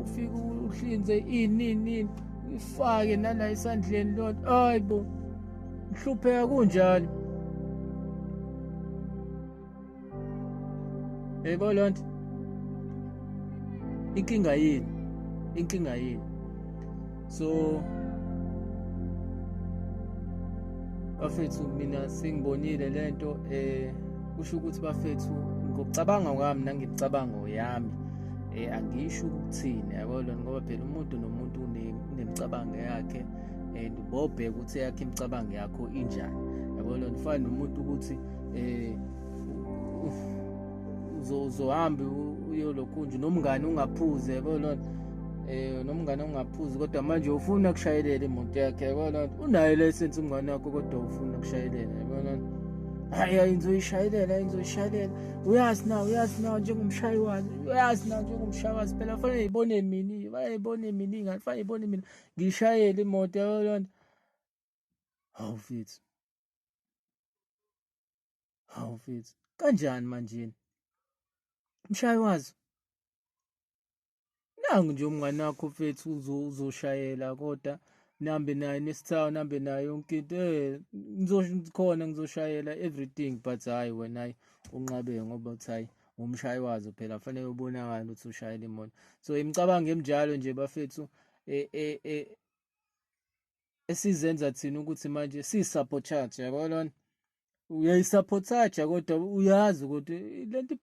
ufike uhlinze ini ini ifake nala esandleni lodwa hayi bo ngihlupheka kunjalo yebo loo nto inkinga yini inkinga yini so bafethu mina sengibonile le nto um kusho ukuthi bafethu ngokucabanga kwami nangemicabango yami eh angisho ukuthini yabo lona ngoba phela umuntu nomuntu unemicabango yakhe and bobheka ukuthi yakhe imicabango yakho injani yabo lona ufana nomuntu ukuthi eh uzohambe uyolokhunje nomngane ungaphuze yabo lona eh nomngane ungaphuzi kodwa manje ufuna kushayelela imoto yakhe yabo lona unayo license umngane wakho kodwa ufuna kushayelela yabo lona hayi ayinzoyishayelela ayinzoyishayelela uyazi na uyazi na njengomshayi wazi uyazi na njengomshayi wazi phela kufanele ibone mina kufanele ibone mina ingane kufanele ibone mina ngishayele imoto yabo yona hawu mfethu hawu mfethu kanjani manjeni mshayi wazi nangu nje umngane wakho mfethu uzoshayela kodwa nihambe naye nesithawu nihambe naye yonke into eh ngizokhona ngizoshayela everything but hayi wena hayi unqabe ngoba uthi hayi umshayi wazo phela kufanele ubonakala ukuthi ushayela imoto so imicabango emjalo nje bafethu e, e, e, esizenza thina ukuthi manje siyisabotage yabo lona uyayisapothaja kodwa uyazi ukuthi lento